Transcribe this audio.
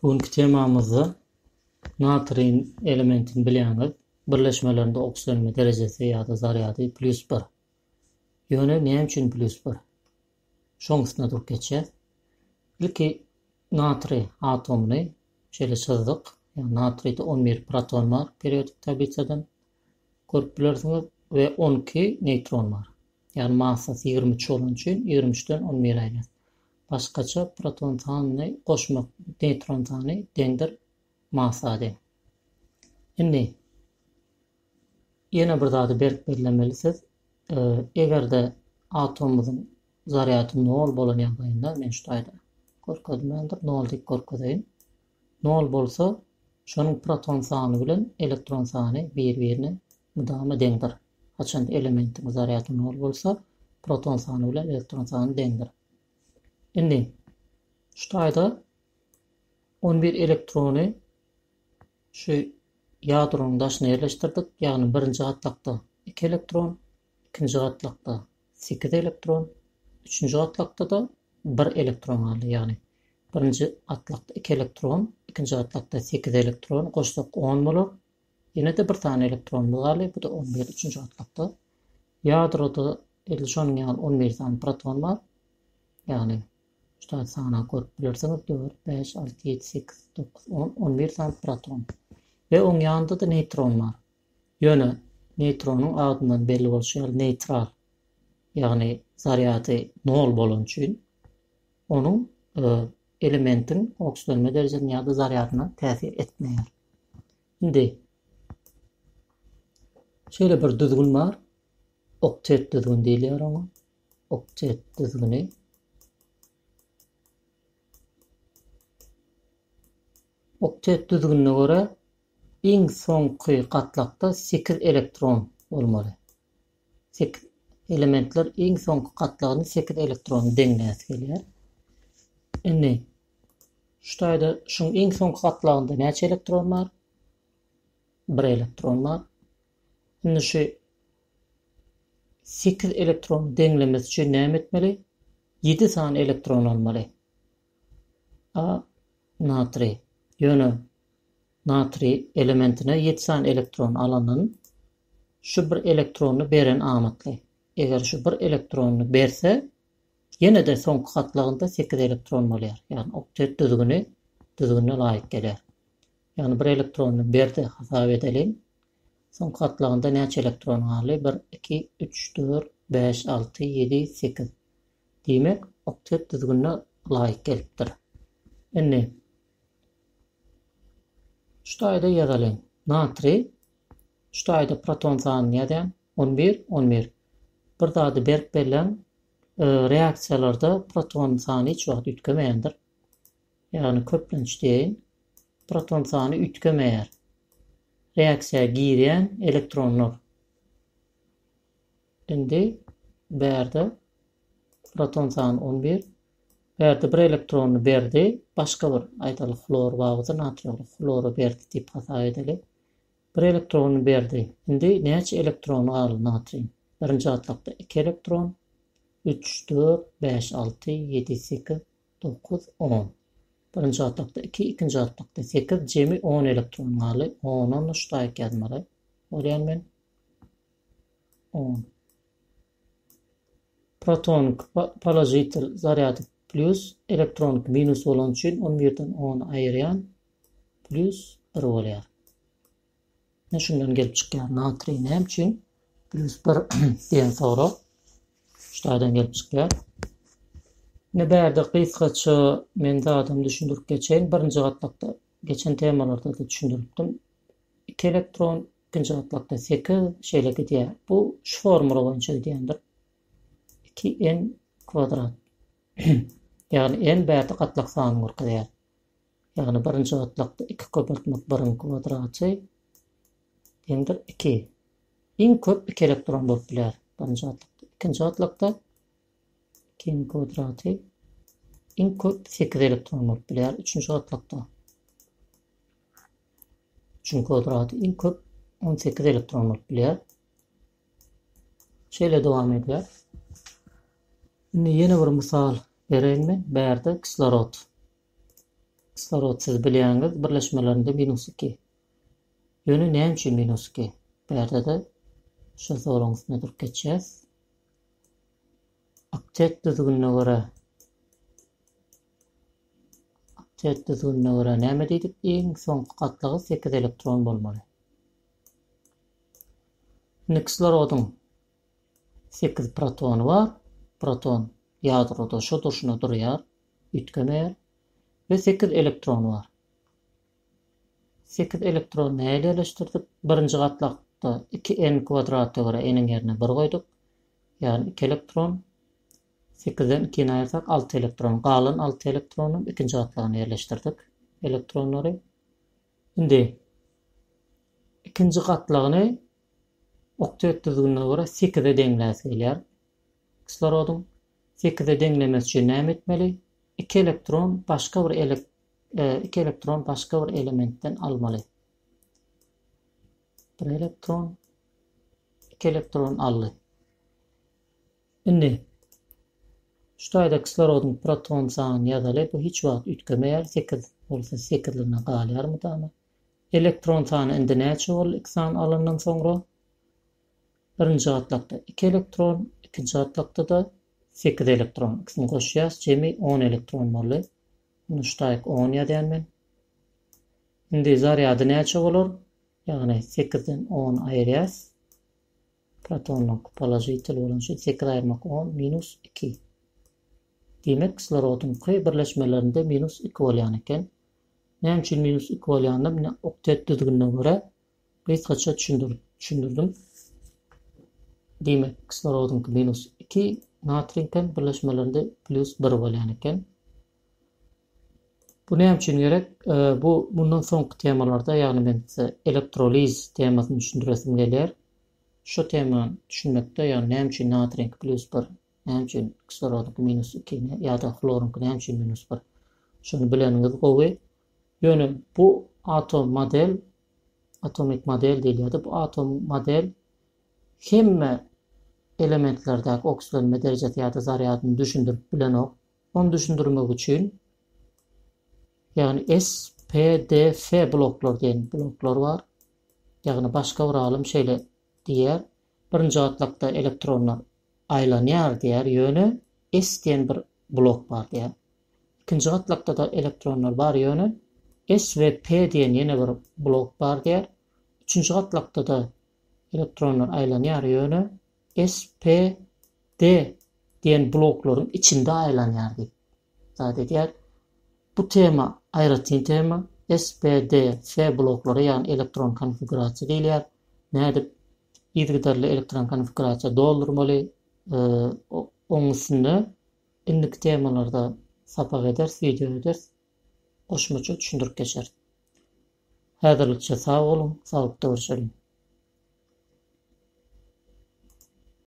Bu günki temamyzda natriýin elementini bilýäňiz. Birleşmelerinde okislenme derejesi ýa-da zarýady plýus bir. Ýöne näme üçin plýus bir? Şoň üstüne durup geçýäs. Ilki natriý atomyny şeýle çyzdyk. Ýa natriýde 11 proton bar periodik tablisadan. Görüp bilersiňiz we 12 neýtron bar. Ýagny massasy 23 bolan üçin 23-den 11 aýrýas. Başgaça proton sanyny goşmak neýtron sany deňdir massa deň. Indi ýene bir zady berk bellemeli siz egerde atomymyzyň zarýady nol bolan ýagdaýynda men şu taýda görkezmändir nol diýip görkezeýin nol bolsa şonuň proton sany bilen elektron sany bir birine mydama deňdir haçanda elementiň zarýady nol bolsa proton sany bilen elektron sany deňdir. Indi, şu taýda on bir elektrony şu ýadronyň daşyna ýerleşdirdik, ýagny birinji gatlakda iki elektron, ikinji gatlakda sekiz elektron, üçünji gatlakda-da bir elektron galdy, ýagny birinji gatlakda iki elektron, ikinji gatlakda sekiz elektron goşsak on bolar, Ýene-de bir sany elektronymyz galdy, bu-da on bir, üçünji gatlakda. Ýadroda edil şonuň ýaly on bir sany proton bar. Ýagny, şu taýda sanap görüp bilersiňiz, dört, bäş, alty, ýedi, sekiz, dokuz, on, on bir sany proton. We oň ýanynda-da neýtron bar. Ýöne neýtronyň adyndan belli bolşy ýaly neýtral, ýagny zarýady nol bolany üçin Onuň elementiň oksitlenme derejesine ýa-da zarýadyna täsir etmeýär. Indi şeýle bir düzgün bar. Oktet düzgün diýilýär oňa. Oktet düzgüni. Oktet düzgünine görä iň soňky gatlakda 8 elektron bolmaly. Sekiz elementler iň soňky gatlagyny sekiz elektrony deňläsi gelýär. Indi şu taýda şuň iň soňky gatlagynda näçe elektron bar? Bir elektron bar. Indi şu sekiz elektron deňlemesi üçin näme etmeli? Ýedi sany elektron almaly. A natriý. Ýöne Natriý elementine ýedi sany elektron alandan, şu bir elektrony beren amatly. Eger şu bir elektrony berse, ýene-de soňky gatlagynda sekiz elektron bolýar. Ýagny oktet düzgüni düzgünine laýyk gelýär. Ýagny bir elektrony berdi hasap edeliň. Soňky gatlagynda näçe elektron galdy? Bir, iki, üç, dört, bäş, alty, ýedi, sekiz. Diýmek, oktet düzgünine laýyk gelipdir. Indi Şu taýda ýazalyň. Natriý. Şu taýda proton sanyny ýazýan. On bir, on bir. Bir zady berk belläň, reaksiýalarda proton sany hiç wagt üýtgemeýändir. Ýagny köplenç diýeýin. Proton sany üýtgemeýär. Reaksiýa girýän elektronlar. Indi bärde proton sany on bir. Bärde bir elektrony berdi. Başga bir, aýdaly, hlor babydy, natriýoly hlora berdi diýip hasap edeli. Bir elektrony berdi. Indi näçe elektrony galdy natriýiň? Birinji gatlakda iki elektron, üç, dört, bäş, alty, ýedi, sekiz, dokuz, on. Birinji gatlakda iki, ikinji gatlakda sekiz, jemi on elektron galdy. Ondan üç daýyk ýazmaly bolýan men. on. Protonik, položitel, zarýady plýus, elektronik, minus bolany üçin on birden ony aýyrýan, plýus bir bolýar. Ne şundan gelip çykýar, natriý näme üçin plýus bir diýen sorag şaýdan gelip çykýar. Ne bärde gysgaça men zadyny düşündirip geçeýin. Birinji gatlakda geçen temalarda da düşündiripdim. Iki elektron Ikinji gatlakda sekiz, şeýle gidýär. Bu şu formula boýunça gidýändir. 2n kwadrat. Ýagny n bärde gatlak sanyny görkezýär. Ýagny birinji gatlakda 2 köpeltmek 1-iň kwadraty deňdir 2. Iň köp 2 elektron bolup biler. Birinji gatlakda. Ikinji gatlakda 2-iň kwadraty iň köp 8 elektron bolup biler. Üçünji gatlakda Üçünji kwadrat iň köp 18 elektron bolup bilýär. Şeýle dowam edýär. Indi ýene bir mysal bereýin men. Bärde kislorod. Kislorod siz bilýäňiz, birleşmelerinde minus 2. Ýöne näme üçin minus 2? Bärde-de şu soruň üstüne durup geçýäs. Oktet düzgünine görä Test usulyna görä näme diýdik? Iň soňky gatlagy sekiz elektron bolmaly. Indi kislorodyň sekiz protony bar. Proton ýadroda şo durşuna durýar, üýtgemeýär we sekiz elektrony bar. Sekiz elektrony nähili ýerleşdirdik? Birinji gatlakda iki n kwadratda görä n-iň ýerine bir goýduk. Ýagny iki elektron. Sekizden ikini aýyrsak, alty elektron. Galan alty elektronyň ikinji gatlagyna ýerleşdirdik elektronlary. Indi ikinji gatlagyny oktet düzgünine görä sekize deňläsi gelýär kislorodyň. Sekize deňlemesi üçin näme etmeli? Iki elektron başga bir ele e, iki elektron başga bir elementden almaly. Bir elektron iki elektron aldy. Indi şu taýda kislorodyň proton sanyny ýazaly, bu hiç wagt üýtgemeýär, sekiz bolsa sekizligine galýar mydama. Elektron sany indi näçe boldy iki sany alandan soňra? Birinji gatlakda iki elektron, ikinji gatlakda-da sekiz elektron, ikisini goşýas, jemi on elektron boldy. Muny şu taýyk on ýazýan men. Indi zarýady näçe bolar? Ýagny sekizden ony aýyrýas. Protonlyk, položitel bolan üçin sekiz aýyrmak on minus iki. Diýmek, kislorodyň K birleşmelerinde minus iki bolýan eken. Näme üçin minus iki bolýanyny mine oktet düzgünine görä gysgaça düşündirdim. Diýmek, kislorodyňky minus iki, natriýiňkem birleşmelerinde plýus bir bolýan eken. Bu näme üçin gerek? Bu mundan soňky temalarda, ýagny men size elektroliz temasyny düşündiresim gelýär. Şu temany düşünmekde, ýagny näme üçin natriýiňki plýus bir, näme üçin kislorodyňky minus iki ýa-da hloryňky näme üçin minus bir? Şuny bileniňiz gowy. Ýöne bu atom model, atomik model diýilýärdi. Bu atom model hemme elementlerdäki oksilenme derejesi ýa-da zarýadyny düşündirip bilenok. Ony düşündirmek üçin, ýagny SPDF bloklar diýen bloklar bar. Ýagny başga bir alym şeýle diýýär, birinji gatlakda elektronlar aýlanýar diýýär, ýöne S diýen bir blok bar diýýär. Ikinji gatlakda-da elektronlar bar, ýöne S we P diýen ýene bir blok bar diýýär. Üçünji gatlakda-da elektronlar aýlanýar, ýöne SPD diýen bloklaryň içinde aýlanýar diýip zat edýär. Bu tema aýratyn tema. SPDF bloklary ýagny elektron konfigurasiýa diýilýär. Nädip yzygiderli elektron konfigurasiýa doldurmaly oň üstünde indiki temalarda sapak ederis, wideo ederis. Goşmaça düşündirip geçeris. Häzirlikçe sag boluň, saglykda görşeliň!